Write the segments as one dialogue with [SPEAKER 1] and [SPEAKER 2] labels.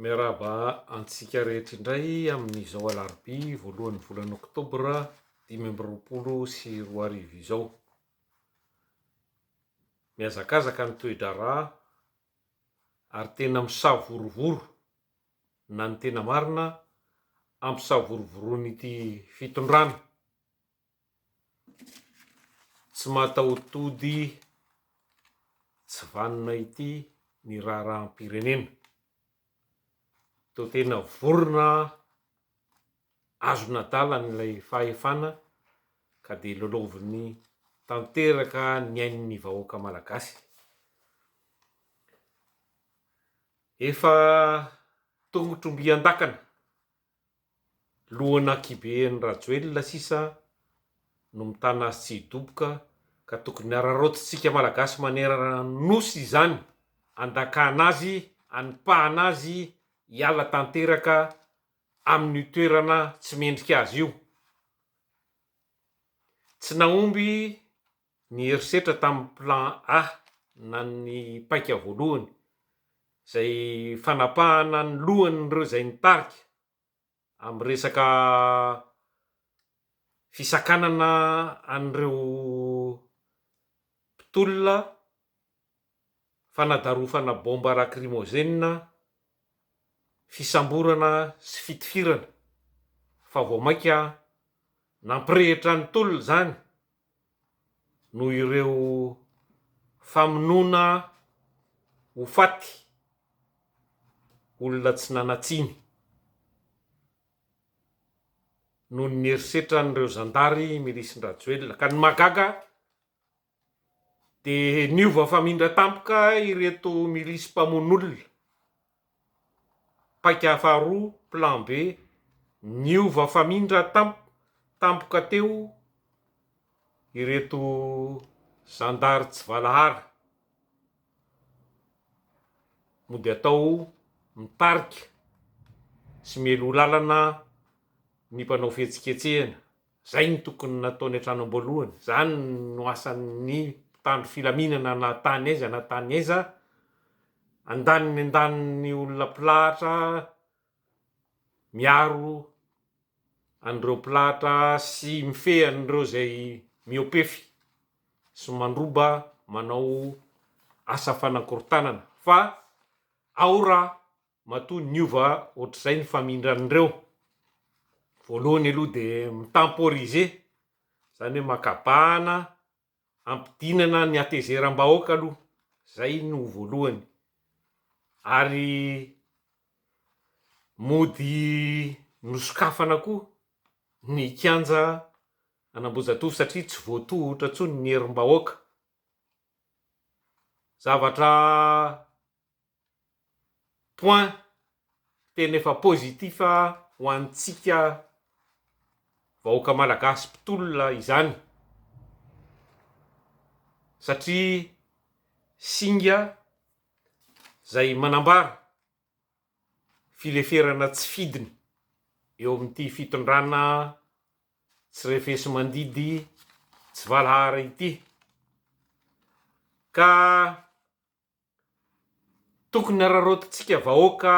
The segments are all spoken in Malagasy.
[SPEAKER 1] Miarahaba antsika rehetra indray amin'izao alarobia voalohan'ny volana oktobra dimy amby roapolo sy roa arivo izao. Mihazakazaka ny toe-draharaha ary tena misavorovoro na ny tena marina hampisavorovoroan'ity fitondrana Tsy matahotody tsy vanona ity ny raharaham-pirenena. Toa tena vorona azon'adalany ilay fahefana ka dia lalaoviny tanteraka ny ain'ny vahoaka malagasy. Efa tongotr'ombiandakana. Lohan'Akiben Rajoelina sisa no mitana azy tsy hidoboka ka tokony araraotintsika Malagasy manerana ny Nosy izany, andakana azy, anipahana azy hiala tanteraka amin'io toerana tsy mendrika azy io. Tsy nahomby Ny herisetra tamin'ny Plan A na ny paika voalohany, izay fanapahana ny lohan'ireo izay nitarika amin'ny resaka fisakanana an'ireo mpitolona fanadarofana bomba rakrimozenina, fisamborana sy fitifirana fa vao mainka nampirehitra ny tolona izany noho ireo famonoana ho faty olona tsy nanatsiny noho ny herisetran'ireo zandary milisin-dRajoelina ka ny mahagaga Dia niova famindra tampoka ireto milisy mpamono olona, paika faharoa, plan B, niova famindra tampoka teo ireto zandary tsy valahara, mody atao mitarika sy mialoha lalana ny mpanao fihetsiketsehana. Izay no tokony nataony hatrany am-boalohany. Izany no asan'ny mpitandro filaminana na tany aiza na tany aiza. Andaniny andaniny olona mpilahatra miaro an'ireo mpilahatra sy mifehy an'ireo izay mihoa-pefy sy mandroba manao asa fanakorontanana fa ao raha Matoa niova ohatr'izay ny famindran'ireo. Voalohany aloha dia mi-temporiser, izany hoe makabahana hampidinana ny hatezeram-bahoaka aloha, izay no voalohany. Ary mody nosokafana koa ny kianja an'Ambohijatovo satria tsy voatohotra intsony ny herim-bahoaka. Zavatra point tena efa positif ho antsika vahoaka malagasy mpitolona izany satria singa zay manambara fileferana tsy fidiny eo amin'ity fitondrana tsy refesi-mandidy tsy valahara ity ka Tokony araraotintsika vahoaka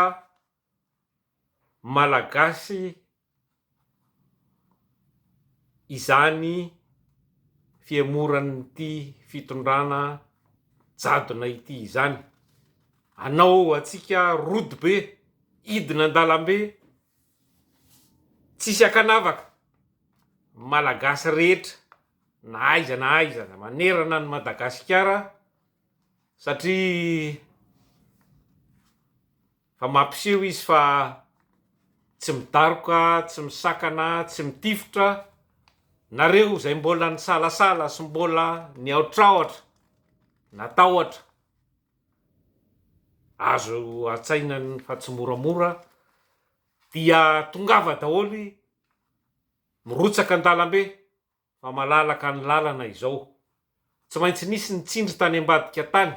[SPEAKER 1] Malagasy izany fihemoran'ity fitondrana jadona ity izany. Anao antsika rody be, hidina an-dalambe, tsisy ankanavaka, Malagasy rehetra na aiza na aiza manerana an'i Madagasikara. Satria fa mampiseho izy fa tsy midaroka, tsy misakana, tsy mitifitra, nareo izay mbola nisalasala sy mbola nihaotraotra, natahotra, azo antsaina fa tsy moramora, dia tongava daholo, mirotsaka an-dalambe, Fa malalaka ny lalana izao. Tsy maintsy nisy ny tsindry tany ambadika tany,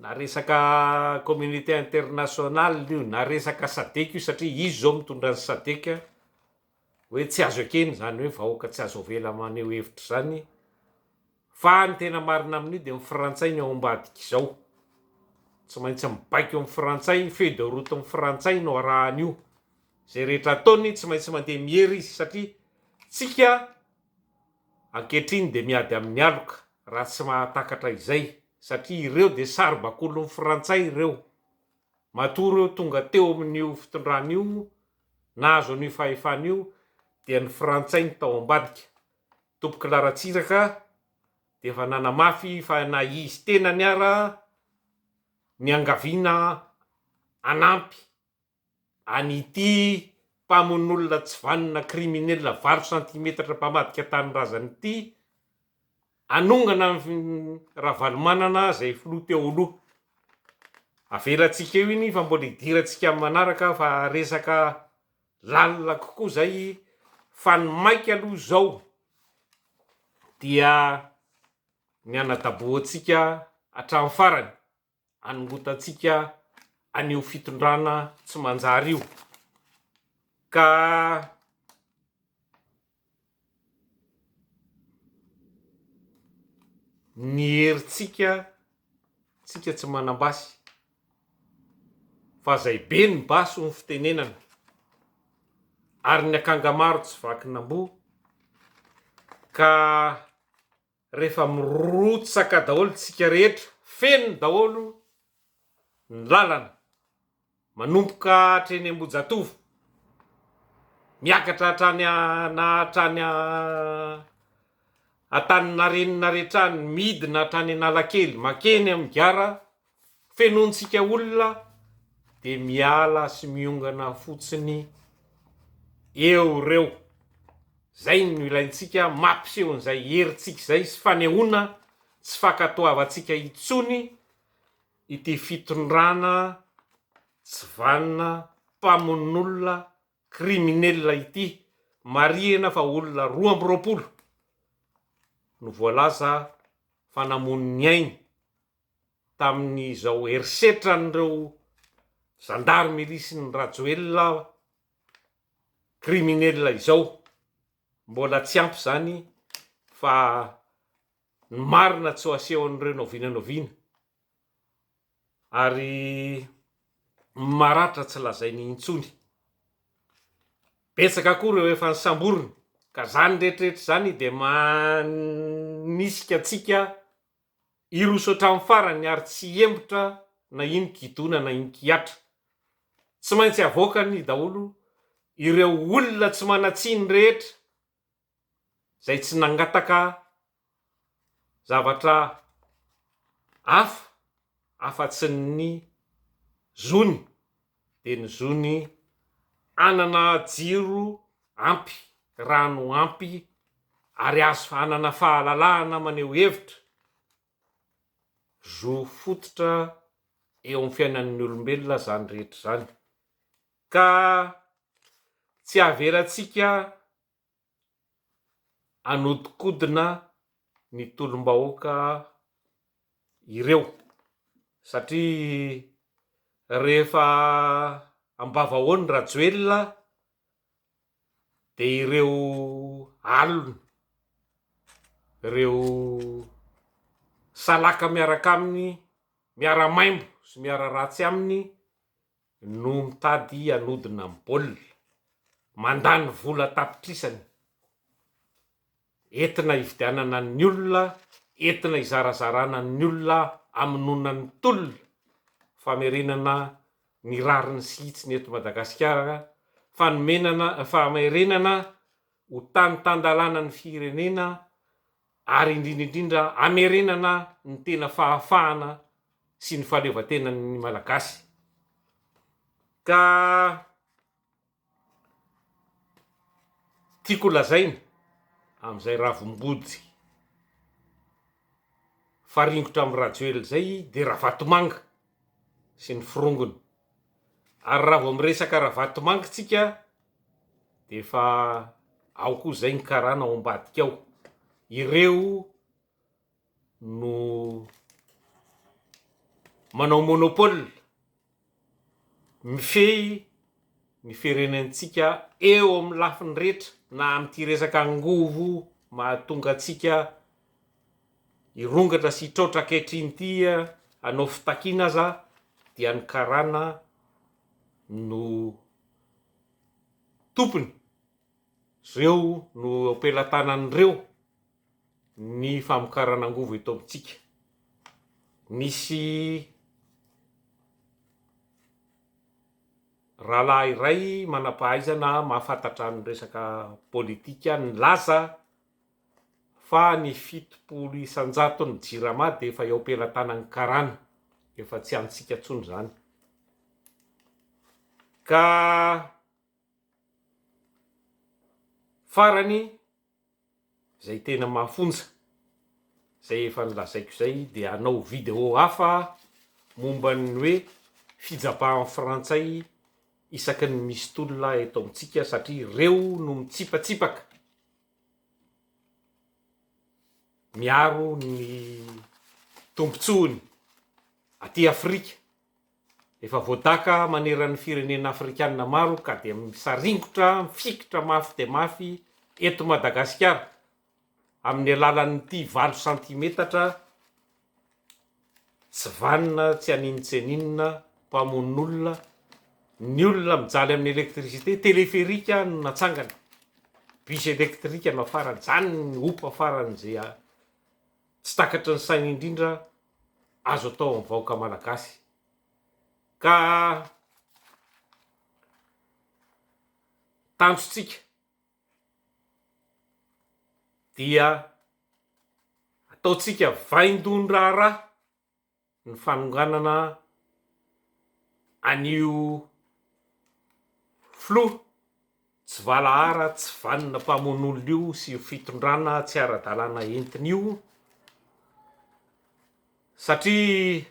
[SPEAKER 1] na resaka communauté internationale io, na resaka sadec io, satria izy izao mitondra ny sadec, hoe tsy azo ekena izany hoe vahoaka tsy azo avela maneho hevitra izany, fa ny tena marina amin'io dia ny frantsay no ao ambadika izao. Tsy maintsy mibaiko ny frantsay, feuille de route ny frantsay no arahan'io. Izay rehetra ataony tsy maintsy mandeha miery izy satria tsika ankehitriny dia miady amin'ny aloka raha tsy mahatakatra izay satria ireo dia saribakolon'ny frantsay ireo matoa ireo tonga teo amin'io fitondrana io nahazo an'io fahefana io dia ny frantsay ny tao ambadika tompok'i laratsiraka dia efa nanamafy fa na izy tenany ara niangaviana hanampy an'ity mpamonolona tsy vanona kriminela valo santimetatra mpamadika tanindrazana ity hanongana an'i Ravalomanana izay filoha teo aloha. Avelantsika eo iny fa mbola hidirantsika amin'ny manaraka fa resaka lalina kokoa izay fa ny maika aloha izao dia ny hanadabohantsika hatramin'ny farany. anongotantsika an'io fitondrana tsy manjary io ka ny herintsika tsika tsy manam-basy fa zay be ny basy ho fitenenana ary ny akanga maro tsy vakin'amboa ka Rehefa mirotsaka daholo tsika rehetra, feno daholo ny lalana, manomboka hatry eny Ambohijatovo, miakatra hatrany na hatrany Antaninarenina hatrany, midina hatrany Analakely, makeny amin'ny gara fenointsika olona dia miala sy miongana fotsiny eo ireo. Izay no ilaintsika, mampiseho an'izay herintsika izay sy fanehoana tsy fankatoavantsika intsony ity fitondrana tsy vanona, mpamonolona, criminel ity. Marihina fa olona roa amby roapolo no voalaza fa namono ny ainy tamin'izao herisetran'ireo zandary milisin'i Rajoelina criminels izao. Mbola tsy ampy izany fa ny marina tsy ho asehon'ireo na oviana na oviana. Ary ny maratra tsy lazainy intsony. Betsaka koa ireo efa nisamborina ka izany rehetra rehetra izany dia manisika antsika Hiroso hatramin'ny farany ary tsy hihemotra na iny kidona na iny kihatra. Tsy maintsy havoakany daholo ireo olona tsy manan-tsiny rehetra izay tsy nangataka zavatra hafa afa-tsy ny zony. dia ny zo ny hanana jiro ampy, rano ampy ary azo hanana fahalalahana maneho hevitra, zo fototra eo amin'ny fiainan'ny olombelona izany rehetra izany ka tsy avelantsika hanodinkodina ny tolom-bahoaka ireo satria rehefa ambavahoan'i Rajoelina dia ireo aliny, ireo salaka miaraka aminy miara-maimbo sy miara-ratsy aminy. no mitady hanodina amin'ny baolina, mandany vola an-tapitrisany entina hividianana ny olona, entina hizarazarana ny olona, hamonoana ny tolona, famerenana ny rariny sy hitsiny eto Madagasikara, fanomenana, famerenana ho tany tan-dalàna ny firenena, ary indrindra indrindra hamerenana ny tena fahafahana sy ny fahaleovantenan'ny Malagasy ka tiako lazaina amin'izay Ravimbody mifaringotra amin'i Rajoelina izay dia Ravatomanga sy ny forongony. Ary raha vao miresaka Ravatomanga tsika dia efa ao koa zay ny karana ao ambadika ao. Ireo no manao monopole, mifehy ny firenentsika eo amin'ny lafiny rehetra na amin'ity resaka angovo mahatonga antsika Hirongatra sy hitraotra ankehitriny ity hanao fitakiana aza dia ny karana no tompony, ireo no eo am-pelatanan'ireo ny famokarana angovo eto amintsika. Nisy rahalahy iray manam-pahaizana mahafantatra ny resaka politika nilaza. fa ny fitopolo isan-jaton'ny Jirama dia efa eo am-pelatanan'ny Karana, efa tsy antsika intsony izany, ka farany izay tena mafonja, izay efa nolazaiko izay dia hanao vidéo hafa momba ny hoe fijabahan'ny Frantsay isaky ny misy tolona eto amintsika satria ireo no mitsipatsipaka. miaro ny tombontsoany aty Afrika, efa voadaka maneran'ny firenena afrikanina maro ka dia misaringotra, mifikitra mafy dia mafy eto Madagasikara amin'ny alalan'ity valo santimetatra. Tsy vanona tsy haninontsianinona, mpamononolona, ny olona mijaly amin'ny électricité, téléphérique no natsangana, bus électrique no afarany, zany ny hopa farany ze tsy takatry ny saina indrindra azo atao amin'ny vahoaka malagasy ka tanjontsika dia ataontsika vaindohan-draharaha ny fanonganana an'io filoha tsy valahara, tsy vanona mpamono olona io sy io fitondrana tsy ara-dalàna entiny io satria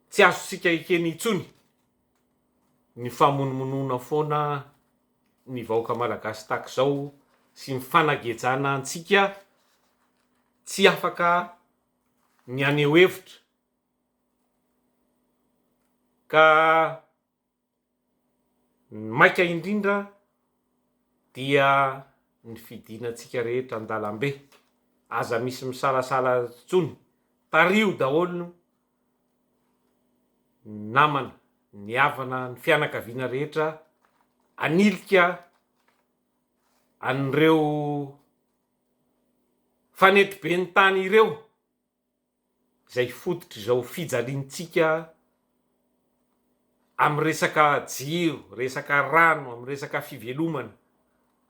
[SPEAKER 1] Tsy azontsika ekena intsony ny famonomonoana foana ny vahoaka malagasy tahaka izao sy ny fanagejana antsika tsy afaka ny haneho hevitra ka Ny maika indrindra dia ny fidinantsika rehetra an-dalambe, aza misy misalasala intsony, tariho daholo ny namana, ny havana, ny fianakaviana rehetra hanilika an'ireo fanetiben'ny tany ireo. izay fototr'izao fijaliantsika amin'ny resaka jiro, resaka rano, amin'ny resaka fivelomana,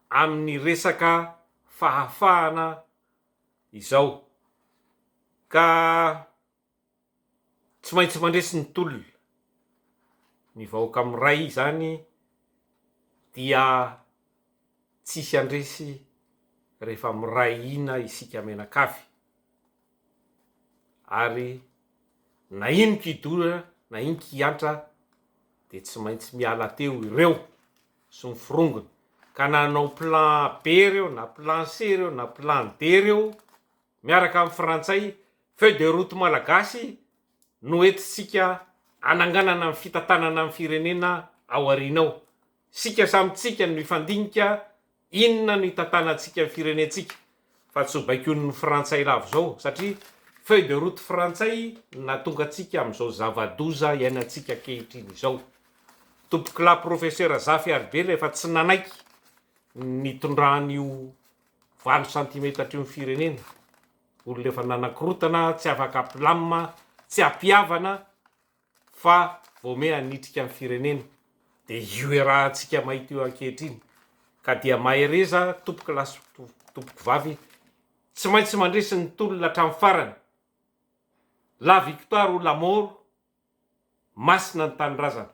[SPEAKER 1] amin'ny resaka fahafahana izao. Ka tsy maintsy mandresy ny tolona. Ny vahoaka miray izany dia tsisy handresy rehefa miray hina isika mianakavy. Ary na iny kidona na iny kiantra dia tsy maintsy miala teo ireo sy ny forongony ka na hanao plan A, B ireo na plan C ireo na plan D ireo miaraka amin'ny frantsay, feuille de route malagasy no entintsika hananganana ny fitantanana ny firenena ao aoriana ao. Isika samy tsika no hifandinika. Inona no hitantanantsika ny firenentsika fa tsy ho baikoin'ny frantsay lavo izao satria feuille de route frantsay no nahatonga antsika amin'izao zava-doza iainantsika ankehitriny izao. Tompokolahy profesera Zafy Haribela efa tsy nanaiky ny nitondran'io valo santimetatra io ny firenena, olona efa nanakorotana, tsy afaka apilamina, tsy ampihavana, Fa vao miha hanitrika ny firenena dia io iarahantsika mahita io ankehitriny ka dia mahereza tompoko lahy sy tompoko vavy tsy maintsy mandresy ny tolona hatramin'ny farany la victoire ou la mort masina ny tanindrazana